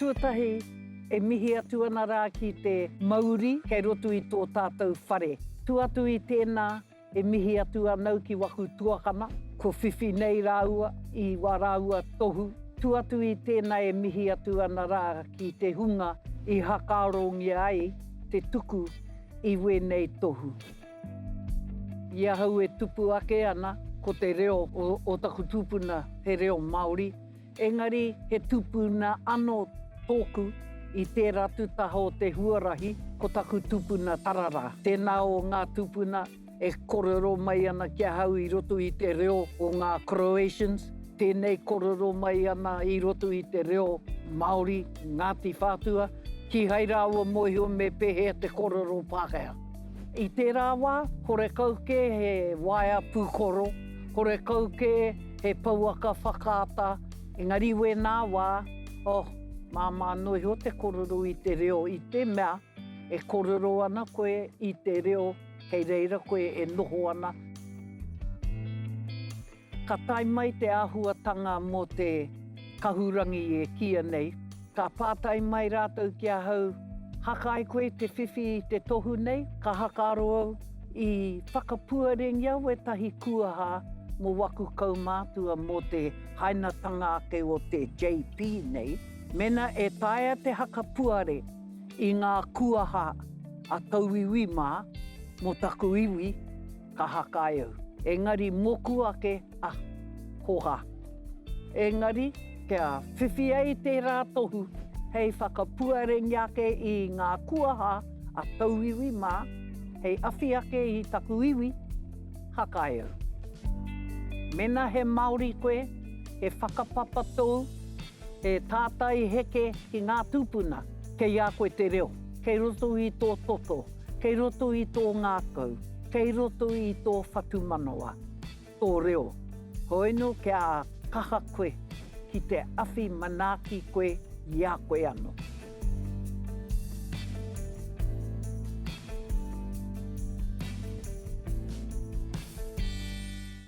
Tuatahi, e mihi atu ana rā ki te mauri kei roto i tō tātou whare. Tu atu i tēnā, e mihi atu anau ki waku tuakana, ko Whiwhi nei rāua i wā rāua tohu. Tu atu i tēnā e mihi atu ana rā ki te hunga i hakarongia ai te tuku i wēnei tohu. I ahau e tupu ake ana ko te reo o taku tupuna he reo Māori, engari he tupuna ano tōku i tērā atu taha o te huarahi ko taku tupuna tararā. Tēnā o ngā tupuna e korero mai ana ki ahau i roto i te reo o ngā Croatians, tēnei korero mai ana i roto i te reo Māori, Ngāti Whātua, kihai rāua mohio me pehea te korero Pākehā. I tērā wā, horekau kē he waea pūkoro, horekau kē he pouaka whakaata, engari wēnā wā, oh, māmā noa iho te korero i te reo i te mea e korero ana koe i te reo kei reira koe e noho ana. Ka tae mai te āhuatanga mō te kahurangi e kīia nei, ka pātai mai rātou ki ahau, Haka ai koe te whiwhi i te tohu nei? Ka haka aro au, I whakapuarengia wētahi kūaha mō waku kaumātua mō te hainatanga ake o te JP nei. Mēnā e taea te hakapuare i ngā kūaha a tauiwi mā mō taku iwi, ka hakai au. Engari moku ake a Koha. Engari kia whiwhi ai tērā tohu hei whakapuarengi ake i ngā kuaha a tauiwi mā, hei awhi ake i taku iwi, hakai au. Mena he Māori koe, he whakapapa tōu, he tātai heke ki ngā tūpuna, kei a koe te reo, kei roto i tō toto. kei roto i tō ngākau, kei roto i tō whatumanawa, tō reo. Hoeno kia kaha koe ki te awhi manaaki koe i a koe ano.